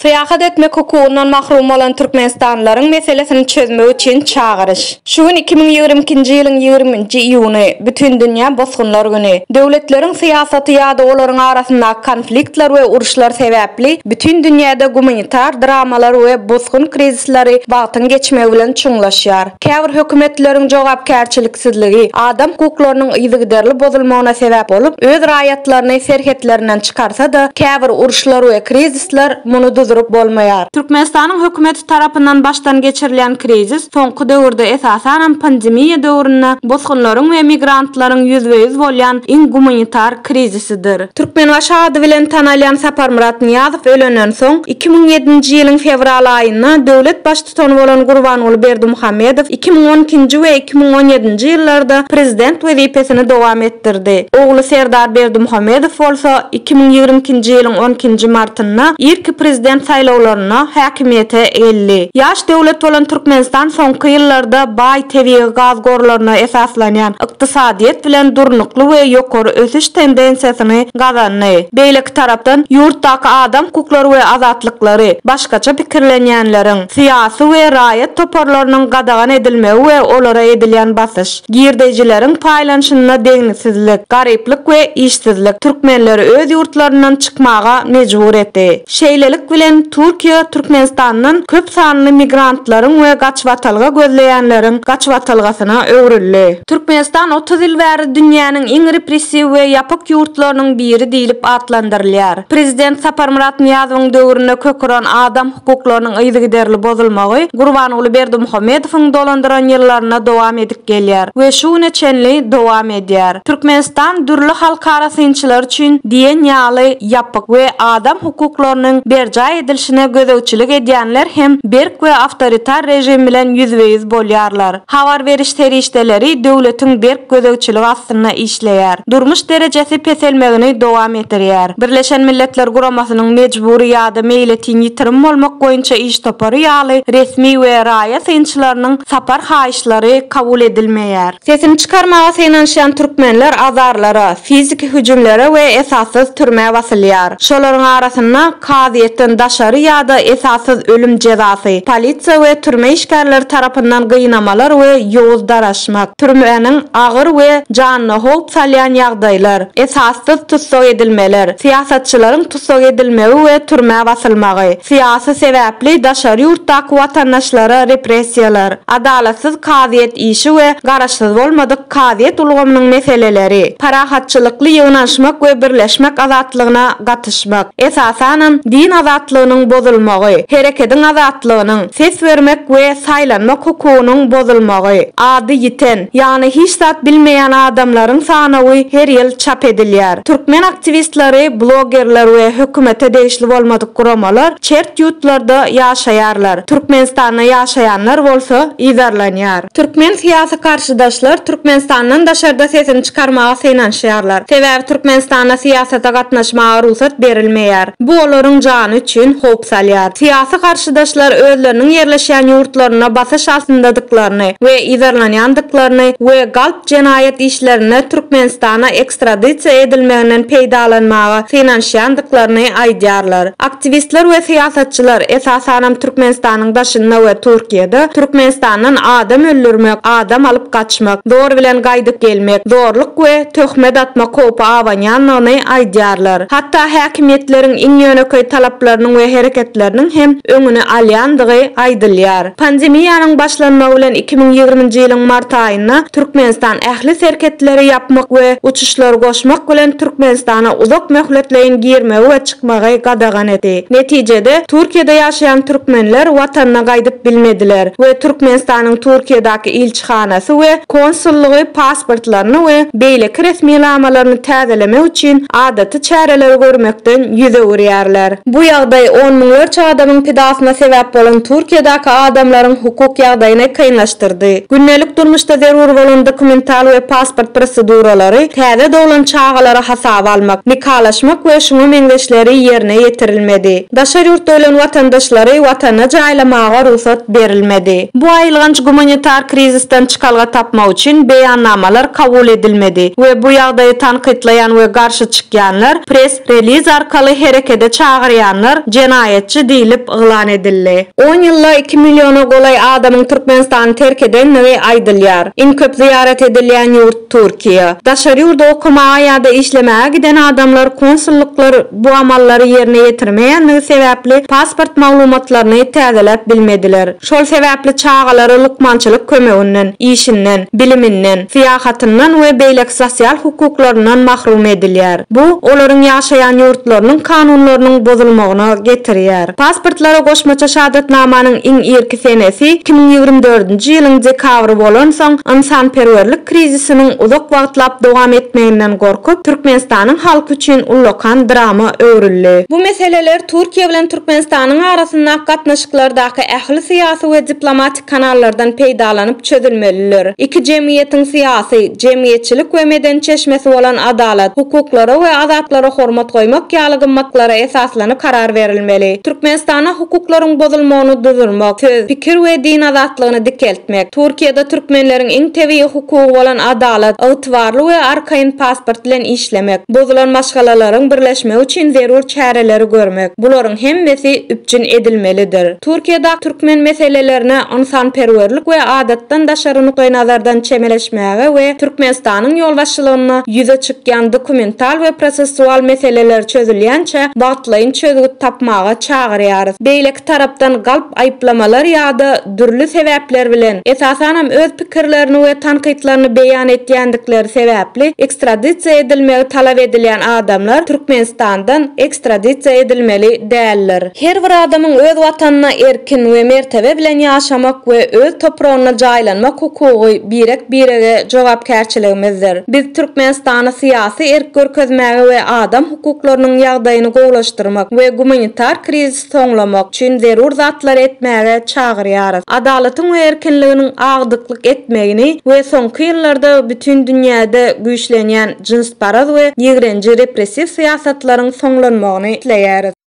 Syýahat etmek hukugyndan mahrum bolan türkmenistanlylaryň meselesini çözmek üçin çagyryş. Şu gün iki müň ýigrimi ikinji ýylyň ýigrimi nji iýuny, Bütindünýä bosgunlar güni. Döwletleriň syýasaty ýa-da olaryň arasyndaky konfliktler we uruşlar sebäpli bütin dünýäde gumanitar dramalar we bosgun krizisleri wagtyň geçmegi bilen çuňlaşýar. Käbir hökümetleriň jogapkärçiliksizligi adam hukuklarynyň yzygiderli bozulmagyna sebäp bolup, öz raýatlaryny serhetlerinden çykarsa-da, käbir uruşlar we krizisler muny duzuryp bolmaýar. Türkmenistanyň hökümeti tarapyndan başdan geçirilýän krizis soňky döwürde, esasanam pandemiýa döwründe bosgunlaryň we migrantlaryň ýüzbe-ýüz bolýan iň gumanitar, krizisidir. Türkmenbaşy ady bilen tanalýan Saparmyrat Nyýazow ölenden soň, iki müň ýedinji ýylyň fewral aýynda döwlet Baştutany bolan Gurbanguly Berdimuhamedow iki müň on ikinji we iki müň on ýedinji ýyllarda Prezident wezipesini dowam etdirdi, ogly Serdar Berdimuhamedow bolsa iki müň ýigrimi ikinji ýylyň on ikinji martynda irki Prezident saýlawlarynda häkimiýete geldi. Ýaş döwlet bolan Türkmenistan soňky ýyllarda baý, tebigy gaz gorlaryna esaslanýan ykdysadyýet bilen durnukly we ýokary ösüş tendensiýasyny gazandy. Beýleki tarapdan, ýurtdaky adam hukuklary we azatlyklary, başgaça pikirlenýänleriň, syýasy we raýat toparlarynyň gadagan edilmegi we olara edilýän basyş, girdeýjileriň paýlanyşynda deňliksizlik, garyplyk we işsizlik türkmenleri öz ýurtlaryndan çykmaga mejbur etdi. Şeýlelik bilen, Türkiýe Türkmenistandan köp sanly migrantlaryň we gaçybatalga gözleýänleriň gaçybatalgasyna öwrüldi. Türkmenistan otuz ýyl bäri dünýäniň iň repressiw we ýapyk ýurtlarynyň biri diýlip atlandyrylýar. Prezident Saparmyrat Nyýazowyň döwründe kök uran adam hukuklarynyň yzygiderli bozulmagy Gurbanguly Berdimuhamedowyň dolandyran ýyllarynda dowam edip gelýär we şu güne çenli dowam edýär. Türkmenistan dürli halkara synçylar üçin diýen ýaly ýapyk we adam hukuklarynyň berjaý edilişine gözegçilik edýänler hem berk we awtoritar režim bilen ýüzbe-ýüz bolýarlar. Habar beriş serişdeleri döwletiň berk gözegçiligi astynda işleýär. Durmuş derejesi peselmegini dowam edirýär. Birleşen Milletler Guramasynyň mejbury ýa-da meýletin ýitirim bolmak boýunça iş topary ýaly resmi we raýa synçylarynyň sapar haýyşy ýaryşlary kabul edilmeýär. Sesini çykarmaga synanyşýan türkmenler azarlara, fiziki hüjümlere we esassyz türmä basylýar. Şolaryň arasynda, kazyýetden daşary ýa-da esassyz ölüm jezasy, polisiýa we türme işgärleri tarapyndan gynamalar we ýowuz daraşmak, türmäniň agyr we janyna howp salýan ýagdaýlar, esassyz tussag edilmeler, syýasatçylaryň tussag edilmegi we türmä basylmagy, syýasy sebäpli daşary ýurtdaky watandaşlara repressiýalar. Adalatsyz kazyýet işi we garaşsyz bolmadyk kazyýet ulgamynyň meseleleri, parahatçylykly ýygnanyşmak we birleşmek azatlygyna gatyşmak, esasanam, din azatlygynyň bozulmagy, herekediň azatlygynyň, ses bermek we saýlanmak hukugynyň bozulmagy, ady ýiten, Ýagny hiç zat bilmeýän adamlaryň sanawy her ýyl çap edilýär. Türkmen aktiwistleri, blogerler we hökümete degişli bolmadyk guramalar çert ýutlarda ýaşaýarlar, Türkmenistanda ýaşaýanlar bolsa yzarlanýar. Türkmen syýasy karşydaşlar Türkmenistandan daşarda sesini çykarmaga synanyşýarlar. Sebäbi Türkmenistanda syýasata gatnaşmaga rugsat berilmeýär. Bu olaryň jany üçin howp salýar. Syýasy karşydaşlar özleriniň ýerleşýän ýurtlarynda basyş altyndadyklaryny, bolandyklaryny we yzarlanýandyklaryny we galp jenaýat işlerinde Türkmenistana ekstradisiýa edilmeginden peýdalanmaga synanyşýandyklaryny aýdýarlar. Aktiwistler we syýasatçylar, esasanam Türkmenistanyň daşynda we Türkiýede, Türkmenistandan adam öldürmek, adam alyp gaçmak, zor bilen gaýdyp gelmek, zorluk we töhmet atmak howpy abanýandygyny aýdýarlar. Hatda häkimiýetleriň iň ýönekeý talaplarynyň we hereketleriniň hem öňüni alýandygy aýdylýar. Pandemiýanyň başlanmagy bilen iki müň ýigrimi nji ýylyň mart aýynda Türkmenistan ähli serhetleri ýapmak we uçuşlary goşmak bilen Türkmenistana uzak möhletleýin girmegi we çykmagy gadagan edi. Netijede, Türkiýede ýaşaýan türkmenler watanyna gaýdyp bilmediler we Türkmenistanyň Türkiýedäki ilçisi ilçihanasy we konsullygy pasportlaryny we beýleki resminamalaryny täzelemek üçin adaty çäreleri görmekden ýüz öwürýärler. Bu ýagdaý on müňlerçe adamyň pidasyna sebäp bolan Türkiýedäki adamlaryň hukuk ýagdaýyny kynlaşdyrdy. Gündelik durmuşda zerur bolan dokumental we pasport proseduralary, täze doglan çagalary hasaba almak, nikalaşmak we şuňa meňzeşleri ýerine ýetirilmedi. Daşary ýurtda ölen watandaşlary Watana jaýlamaga rugsat berilmedi. Bu aýylganç gumanitar krizisden çykalga tapmak üçin beýannamalar kabul edilmedi we bu ýagdaýy tankytlaýan we garşy çykýanlar, press-reliz arkaly herekede çagyrýanlar jenaýatçy diýlip yglan edildi. On ýylda iki milliona golaý adamyň Türkmenistany terk edendigi aýdylýar. Iň köp zyýarat edilýän ýurt. Türkiýe. Daşary ýurda okamaga ýa-da işlemäge giden adamlar konsullyklar bu amallary ýerine ýetirmeýändigi sebäpli pasport maglumatlaryny täzeläp bilmediler. Şol sebäpli çagalary lukmançylyk kömeginden, işinden, biliminden, syýahatyndan we beýleki sosial hukuklaryndan mahrum edilýär. Bu, olaryň ýaşaýan ýurtlarynyň kanunlarynyň bozulmagyna getirýär. Pasportlara goşmaça şahadatnamanyň iň irki senesi iki müň ýigrimi dördünji ýylyň dekabry bolansoň, ynsanperwerlik krizisiniň uzak wagtlap dowam etmeginden gorkup, Türkmenistanyň halky üçin ullakan drama öwrüldi. Bu meseleler Türkiýe bilen Türkmenistanyň arasyndaky gatnaşyklardaky ähli syýasy we diplomatik kanallardan peýdalanyp çözülmelidir. Iki jemgyýetiň syýasy, jemgyýetçilik we medeni çeşmesi bolan adalat, hukuklara we azatlara hormat goýmak ýaly gymmatlara esaslanyp karar berilmeli. Türkmenistana hukuklaryň bozulmagyny duzurmak, söz, pikir we din azatlygyny dikeltmek, Türkiýede türkmenleriň iň tebigy hukugy bolan adalat, ygtybarly we arkaýyn pasport bilen işlemek, bozulan maşgalalaryň birleşmegi üçin zerur çäreleri görmek, bularyň hemmesi üpjün edilmelidir. Türkiýede türkmen meselelerine ynsanperwerlik we adatdan daşary nukdaýnazardan çemeleşmäge we Türkmenistanyň ýolbaşçylygynda ýüze çykýan dokumental we prosessual meseleler çözülýänçä wagtlaýyn çözgüt tapmaga çagyrýarys. Beýleki tarapdan galp aýyplamalar ýa-da dürli sebäpler bilen, esasanam öz pikirlerini we tankytlaryny beýan etýändikleri sebäpli ekstradisiýa edilmegi talap edilýän adamlar Türkmenistandan ekstradisiýa edilmeli däldir. Her bir adamyň öz Watanynda erkin we mertebe bilen ýaşamak we öz topragynda jaýlanmak hukugy birek-birege jogapkärçiligimizdir. Biz Türkmenistany syýasy erk görkezmäge we adam hukuklarynyň ýagdaýyny gowlaşdyrmak we gumanitar krizisi soňlamak üçin zerur zatlary etmäge çagyrýarys. Adalatyň we erkinliginiň agdyklyk etmegini we soňky ýyllarda bütin dünýäde güýçlenýän jynsparaz we ýigrenji repressiw syýasatlaryň soňlanmagyny isleýäris.